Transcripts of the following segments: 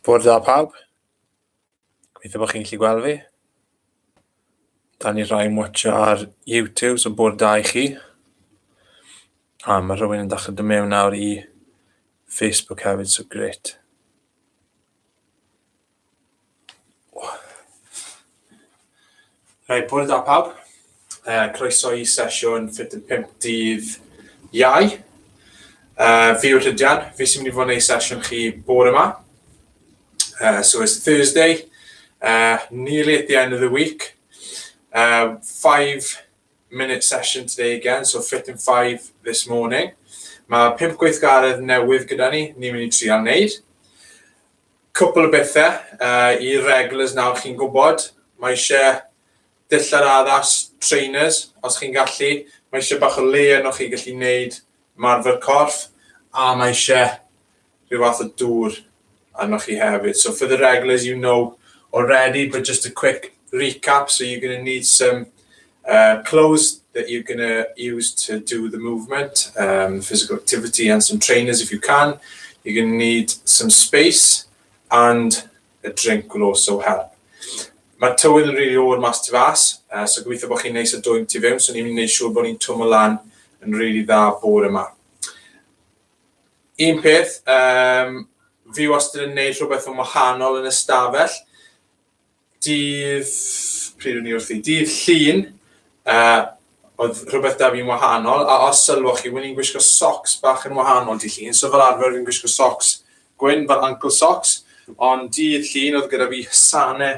Bore da pawb. Gobeithio bod chi'n gallu gweld fi. Da ni rhai yn watch ar YouTube, so bore da i chi. A mae rhywun yn dechrau dod mewn nawr i Facebook hefyd, so gret. Rhaid bod da pawb. Uh, croeso i sesiwn 45 dydd iau. Uh, fi yw'r Rhydian, fi sy'n mynd i fod yn ei sesiwn chi bore yma. Uh, so it's Thursday, uh, nearly at the end of the week. Uh, five minute session today again, so fit in five this morning. Mae pimp gweithgaredd newydd gyda ni, ni'n mynd i trial wneud. Cwpl o bethau i regulars nawr chi'n gwybod, mae eisiau dillad addas, trainers os chi'n gallu, mae eisiau bach o le yno chi gallu gwneud ymarfer corff a mae eisiau rhyw fath o dŵr arnoch chi hefyd. So for the regulars you know already but just a quick recap so you're going to need some Uh, clothes that you're going to use to do the movement, um, physical activity, and some trainers if you can. You're going to need some space and a drink will also help. Mae tywydd yn rili really o'r mas tu fas, uh, so gobeithio bod chi'n neis a dwy'n tu fewn, so ni'n mynd i siŵr bod ni'n twm o lan yn rili really dda bore yma. Un peth, um, fi wastad yn neud rhywbeth yn wahanol yn ystafell, Dydd, pryd o'n i wrthi? Dydd Llun, uh, oedd rhywbeth da fi'n wahanol, a os sylwch chi, wy'n i'n gwisgo socks bach yn wahanol dydd Llun, so fel arfer fi'n gwisgo socks gwyn fel ankle socks, ond dydd Llun oedd gyda fi hysane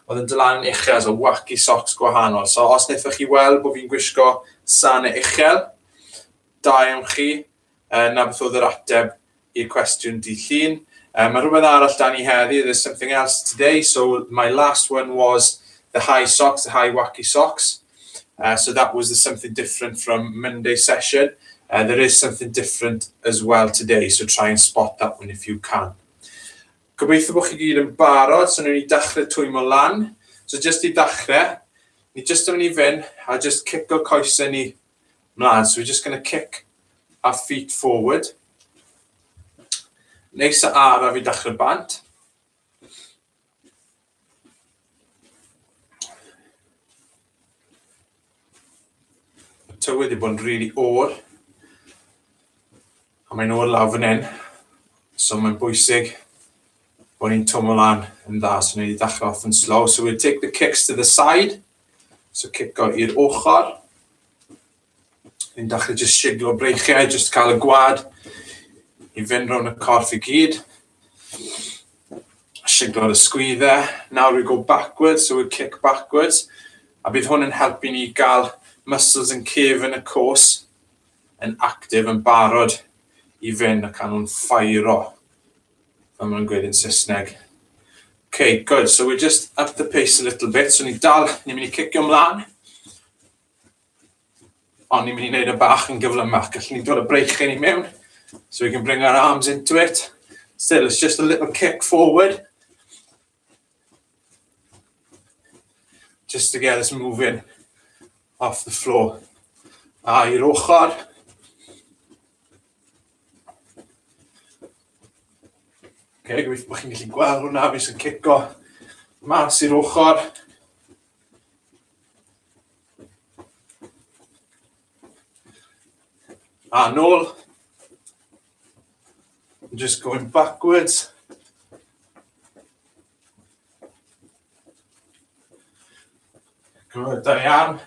oedd yn dylan yn uchel, so wacky socks gwahanol. So os wnaethoch chi weld bod fi'n gwisgo sane uchel, da iawn chi, 'na beth oedd yr ateb i'r cwestiwn dydd Llun. Uh, mae rhywbeth arall dan ni heddi, there's something else today, so my last one was the high socks, the high wacky socks. Uh, so that was the something different from Monday session. Uh, there is something different as well today, so try and spot that one if you can. Gobeithio bod chi gyd yn barod, so ni'n i dachrau twymo lan. So just i ddechrau, ni just yn mynd i fynd a just cico coesau ni Mlaen, so we're just going to kick our feet forward. Neis a araf i dachrau bant. tywydd wedi bod yn rili really o'r. A mae'n ôl lawr fan hyn. So mae'n bwysig bod ni'n twm o lan yn dda. So ni'n ddechrau off yn slow. So we'll take the kicks to the side. So cico i'r ochr. Ni'n dechrau just siglo breichiau, just cael y gwad i fynd rown y corff i gyd. Siglo'r ysgwyddau. Now we go backwards, so we kick backwards. A bydd hwn yn helpu ni gael muscles yn cef yn y cwrs. yn actif yn barod i fynd ac a nhw'n ffairo fel maen nhw'n gweud yn Saesneg. Ok, good, so we'll just up the pace a little bit, so ni'n dal, ni'n mynd i cicio mlaen, ond ni'n mynd i wneud y e bach yn gyflymach, gallwn ni'n dod y breichyn i mewn, so we can bring our arms into it, still it's just a little kick forward, Just to get us moving off the floor. A i'r ochr. Okay, gweithio bod chi'n gallu gweld hwnna, fi sy'n cico mas i'r ochr. A nôl. I'm just going backwards. Gwrdd, da ni am.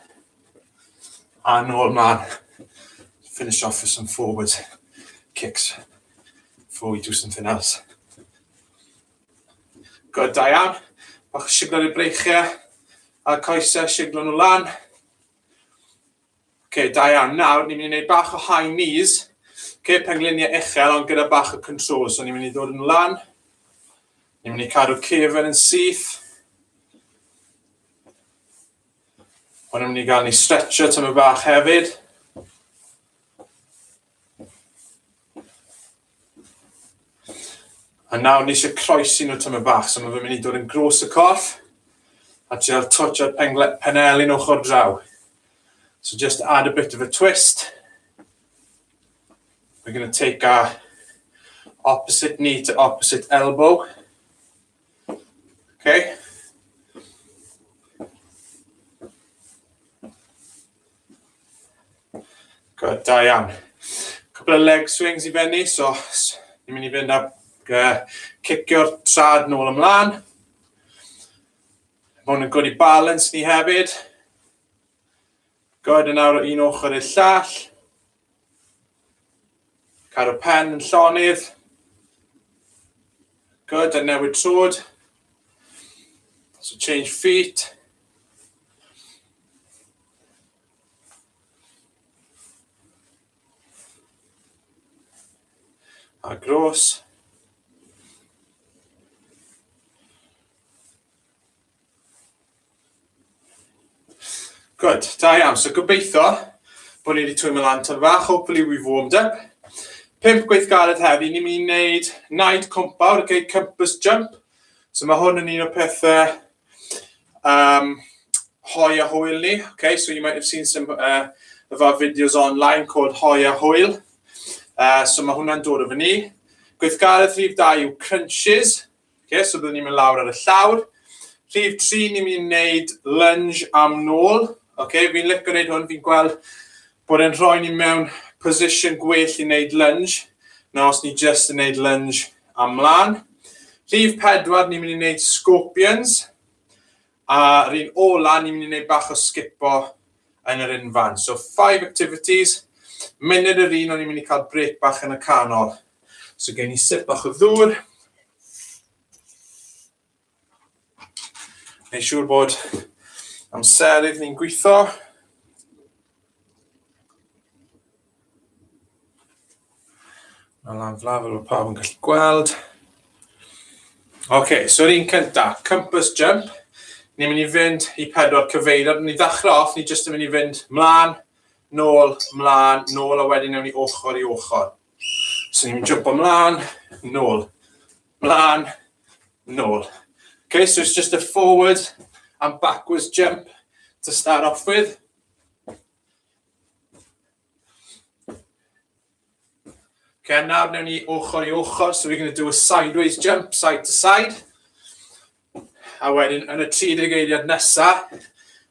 A nôl man. Finish off with some forward kicks before we do something else. Gwrdd, da iawn. Bach o siglo i'r breichiau. A coesau siglo nhw lan. okay, da iawn. Nawr, ni'n mynd i wneud bach o high knees. Okay, pengluniau uchel, ond gyda bach o control. So, ni'n mynd i ddod yn lan. Ni'n mynd i cadw cefn yn syth. Ond ni'n mynd i gael ni stretcho tyma bach hefyd. A nawr ni eisiau croesi nhw tymor bach, so mae fe'n mynd i dod yn gros y corff, a trial twtio'r penel yn ochr draw. So just add a bit of a twist. We're going to take our opposite knee to opposite elbow. Okay. Good, da iawn. Cwbl o leg swings i fenni, so ni'n mynd i fynd a uh, cicio'r trad nôl ymlaen. Mae hwn yn gwrdd i balans ni hefyd. Good, yn awr o un ochr i'r llall. Cadw pen yn llonydd. Good, a newid trwyd. So change feet. A gros. Good, da iawn. So gobeithio bod ni wedi twymo lan tan fach, hopefully we've warmed up. Pimp gweithgaredd heddi, ni'n mynd i wneud naid compawr, okay, compass jump. So mae hwn yn un o pethau um, hoi a hwyl ni. Okay, so you might have seen some uh, of our videos online called hoi a hwyl. Uh, so mae hwnna'n dod o fy ni. Gweithgaredd rhif da yw crunches. Okay, so byddwn ni'n mynd lawr ar y llawr. Rhif 3, ni'n mynd i wneud lunge am nôl. Okay, fi'n licio gwneud hwn, fi'n gweld bod e'n rhoi ni mewn position gwell i wneud lunge na os ni just yn wneud lunge am mlaen. Rhif 4, ni'n mynd i wneud scorpions. A rhywun ola, ni'n mynd i wneud bach o sgipo yn yr unfan. So, five activities, munud yr un o'n i'n mynd i cael brec bach yn y canol. So, gen i sip bach o ddŵr. Neu siŵr bod amserydd ni'n gweithio. Mae lan flaf fel bod pawb yn gallu gweld. Oce, okay, so'r un cynta, compass jump. Ni'n mynd i fynd i pedwar cyfeiriad. Ni'n ddechrau off, ni jyst yn mynd i fynd mlaen, nôl, mlaen, nôl, a wedyn newn ni ochr i ochr. So ni'n mynd jump mlaen, nôl, mlaen, nôl. Okay, so it's just a forward and backwards jump to start off with. Okay, nawr newn ni ochr i ochr, so we're going to do a sideways jump, side to side. A wedyn, yn y 30 eiliad nesa,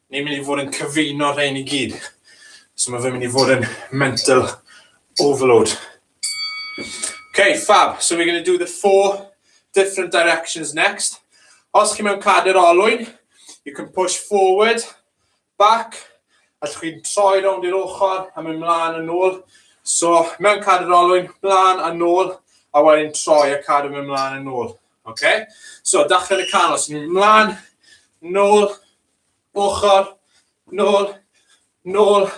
ni'n mynd i fod yn cyfuno rhain i gyd. So mae fe'n mynd i fod yn mental overload. Okay, fab. So we're going to do the four different directions next. Os chi mewn cadr olwyn, you can push forward, Back, allwch chi troi rownd i'r ochr a mynd mlaen a nôl. So, mewn cadw yr olwyn, mlaen a nôl, a wedyn troi a cadw mynd mlaen a nôl. Oce? So, dachrau yn y canol, so mynd mlaen, nôl, ochr, nôl, nôl,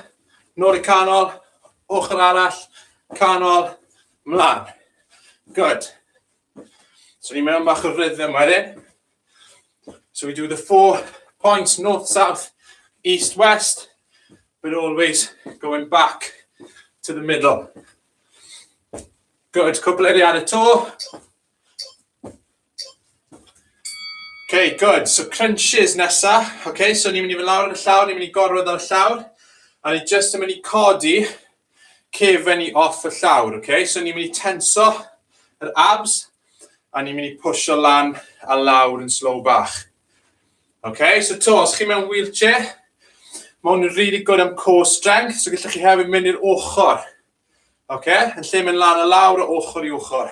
nôl y canol, ochr arall, canol, mlaen. Good. So ni mewn bach o rhythm wedyn. So we do the four points, north, south, east, west, but always going back to the middle. Good, cwpl eiriad y to. Okay, good. So crunches nesa. Okay, so ni'n mynd i fy lawr yn y llawr, ni'n mynd i gorwedd ar y llawr. A ni just yn mynd i codi cefen i off y llawr, ok? So ni'n mynd i tenso yr abs a ni'n mynd i pwysio lan a lawr yn slow bach. Ok, so to, os chi mewn wheelchair, mae hwn yn really good am core strength, so gallwch chi hefyd mynd i'r ochr. Ok, yn lle mynd lan a lawr o ochr i ochr.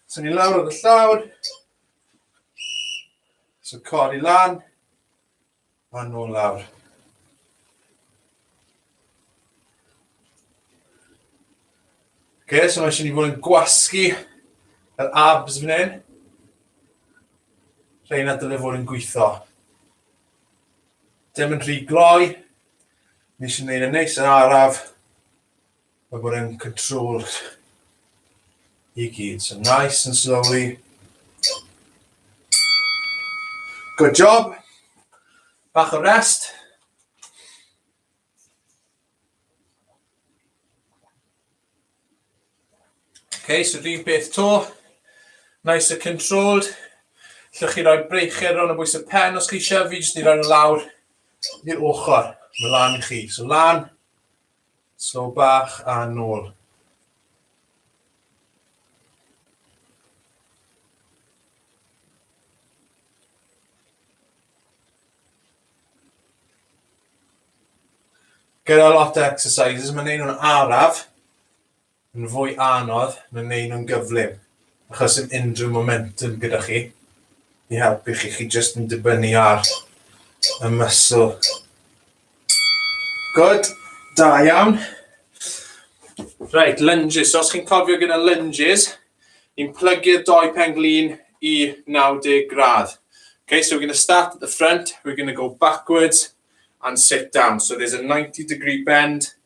So ni lawr o'r llawr. So cor i lan. Maen nhw lawr. Okay, so mae eisiau ni fod yn gwasgu yr abs fan hyn. Rhain a dylai fod yn gweithio. Dim yn rhy gloi. Ni eisiau gwneud yn neis yn araf. Mae bod yn control i gyd. So nice and slowly. Good job. Bach o rest. Okay, so rhywun peth to. Nice and controlled. Llwch chi roi breicher rhan o bwys y pen os chi eisiau. Fi jyst i roi nhw lawr i'r ochr. Mae lan i chi. So lan, Tro bach a nôl. Gyda lot o exercises, mae'n neud nhw'n araf. yn fwy anodd na wneud nhw'n gyflym achos sim unrhyw momentum gyda chi i helpu chi, chi jyst yn dibynnu ar y muscle. Good, da iawn. Right, lunges, so os chi'n cofio gyda lunges, ni'n plygu'r doi pen glin i 90 gradd. Okay, so we're going to start at the front, we're going to go backwards and sit down. So there's a 90 degree bend,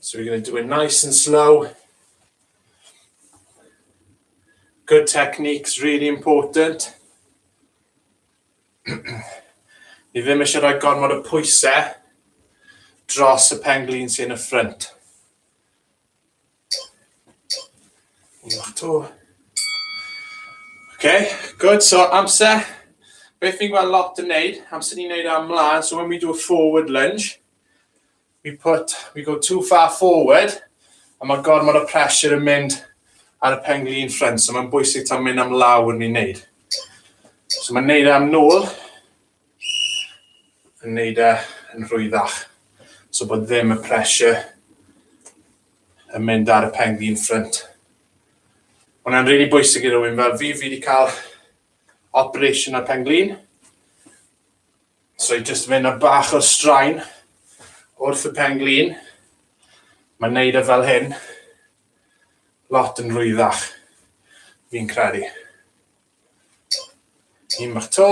So we're going to do it nice and slow. Good technique's really important. Ni ddim eisiau rhoi gormod o pwysau dros y penglin sy'n y ffrynt. Wlach to. OK, good. So amser, beth fi'n gweld lot yn neud, amser ni'n neud am mlaen, so when we do a forward lunge, we put, we go too far forward, a mae gormod o pressure yn mynd ar y pengli yn ffrind, so mae'n bwysig ta'n mynd am lawr ni'n neud. So mae'n neud e am nôl, yn wneud e yn rhwyddach. So bod ddim y pressure yn mynd ar y pen gyn ffrynt. Mae'n rili really bwysig i rywun fel fi, fi wedi cael operation ar pen glin. So i just mynd a bach o straen wrth y pen glin. Mae'n neud e fel hyn lot yn rwyddach, fi'n credu. Un bach to.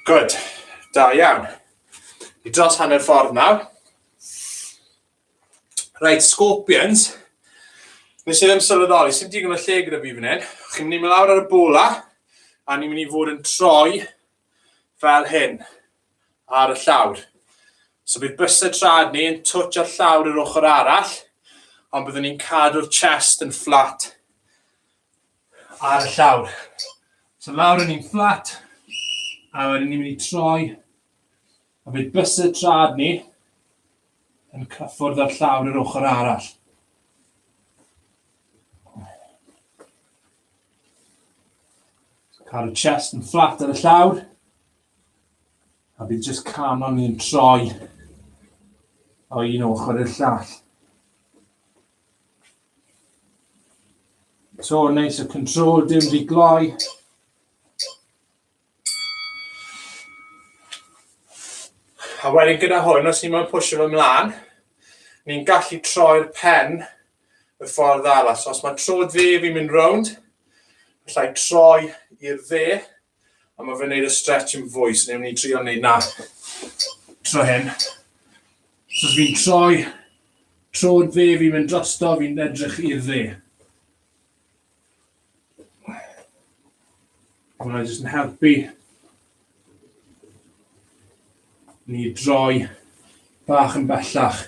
Good. Da iawn. I dros hanner ffordd nawr. Rhaid, scorpions. Nes i ddim sylweddoli, sy'n digon o lle gyda fi fan hyn. Chi'n mynd i mynd lawr ar y bwla, a ni'n mynd i fod yn troi fel hyn. ar y llawr. So bydd bysedd trad ni yn twtch ar llawr yr ochr arall, ond byddwn ni'n cadw'r chest yn fflat ar y llawr. So lawr yn ni'n fflat, a wedyn ni'n mynd i troi, a bydd bysedd trad ni yn cyffwrdd ar llawr yr ochr arall. Cadw chest yn fflat ar y llawr. A bydd jyst canon ni'n troi o un ochr i'r llall. So neis y control dim wedi gloi. A wedyn gyda hwn, os ni moyn pwysio fy mlaen, ni'n gallu troi'r pen y ffordd arall. So os mae trod dde fi'n mynd rownd, allai troi i'r dde, A mae fe'n neud y stretch yn fwy, so newn ni trio neud na tro hyn. So fi'n troi trod dde, fi'n mynd drosto, fi'n edrych i'r dde. Hwna jyst yn helpu ni droi bach yn bellach.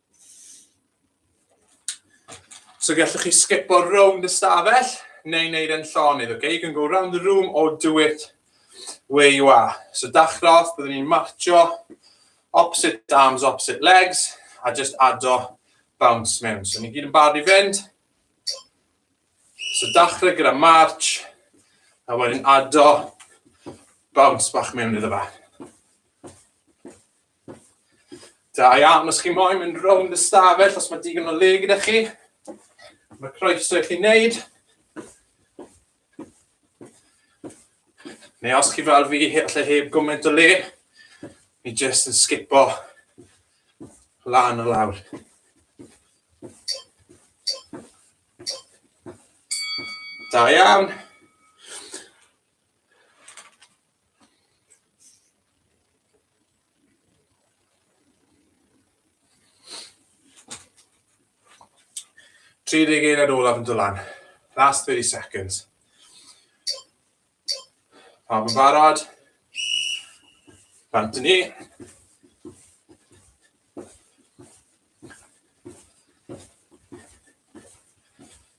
So gallwch chi sgipo rownd y stafell neu wneud e'n llonydd, okay? You can go round the room or do it where you are. So dachrodd, byddwn ni'n marcho opposite arms, opposite legs, a just ado bounce mewn. So ni gyd yn barod i fynd. So dachrau gyda march, a wedyn ado bounce bach mewn iddo fe. Da iawn, os chi moyn mynd rownd y stafell, os mae digon o le gyda chi, mae croeso i chi wneud. Neu os chi fel fi, allai heb gwmynt o le, mi jyst yn sgipo lan o lawr. Da iawn. Tri deg eiliad olaf yn dylan. Last 30 seconds. Pawb yn barod? Bant ni.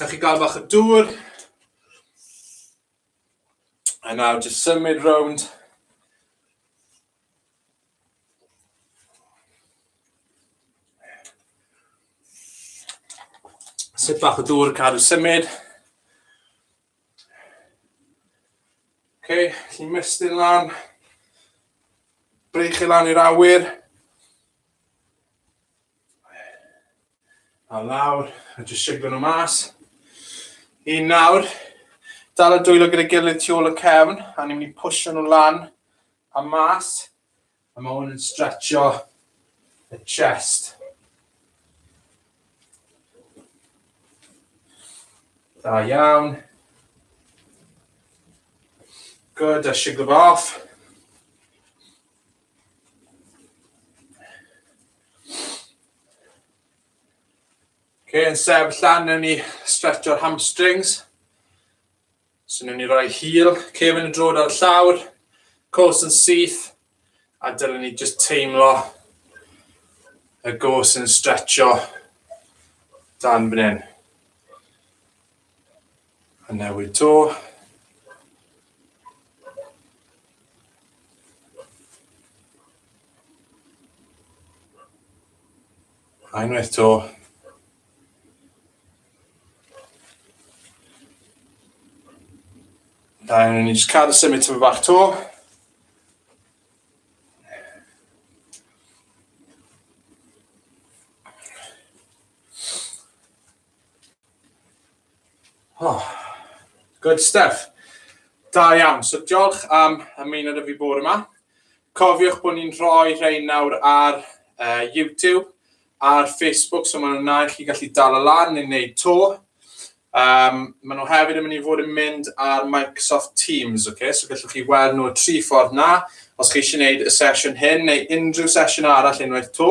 Ewch i gael bach o dŵr. A nawr jyst symud rownd. Sut bach o dŵr, cadw symud. Ok, lli mestyn lan. Breich i lan i'r awyr. A lawr, a jyst siglo nhw mas. Un nawr, dal y dwylo gyda gilydd tu ôl y cefn, a ni'n mynd i pwysio nhw lan a mas. A mae hwn yn stretcho y chest. Da iawn. Good, a siglo off. Okay, yn sef llan, newn ni stretch o'r hamstrings. So newn ni roi hil, cef yn y drod ar y llawr, cos yn syth, a dylwn ni just teimlo y gos yn stretcho dan fan hyn. A newid to. A unwaith to. Da, ni'n just cael y symud tyfu bach to. Oh, good stuff. Da iawn. So diolch am ymuno da fi bore yma. Cofiwch bod ni'n rhoi rhain nawr ar uh, YouTube, ar Facebook, so maen nhw'n na i chi gallu dal y lan neu wneud to. Um, maen nhw hefyd yn mynd i fod yn mynd ar Microsoft Teams, okay? so gallwch chi weld nhw tri ffordd na, os chi eisiau gwneud y sesiwn hyn neu unrhyw sesiwn arall unwaith to.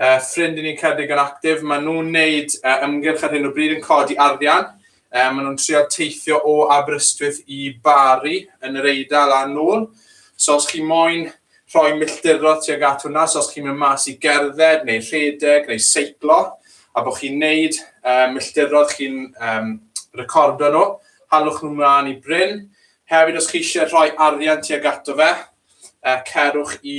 uh, ffrind i ni'n cedig yn actif, maen nhw'n neud uh, ymgyrch ar hyn o bryd yn codi arian, uh, maen nhw'n trio teithio o Aberystwyth i Bari yn yr Eidal a nôl. So os chi moyn rhoi milltirodd tuag at hwnna, so os chi'n mynd mas i gerdded neu rhedeg neu seiclo, a bod chi'n neud um, milltirodd chi'n um, recordo nhw, halwch nhw mlaen i Bryn. Hefyd, os chi eisiau rhoi arian tuag ato fe, uh, cerwch i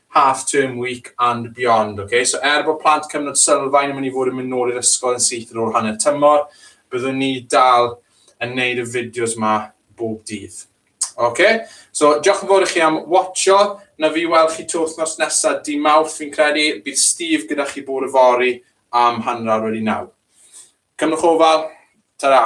half term week and beyond ok so er bod plant cyfnod sylfaen yn mynd i fod yn mynd nôl i'r ysgol yn syth ar ôl hanner tymor byddwn ni dal yn neud y fideos ma bob dydd ok so diolch yn fawr i chi am watcho na fi weld chi twth nos nesa di mawrth fi'n credu bydd Steve gyda chi bore y fori am hanner awr wedi naw cymrwch ofal ta-ra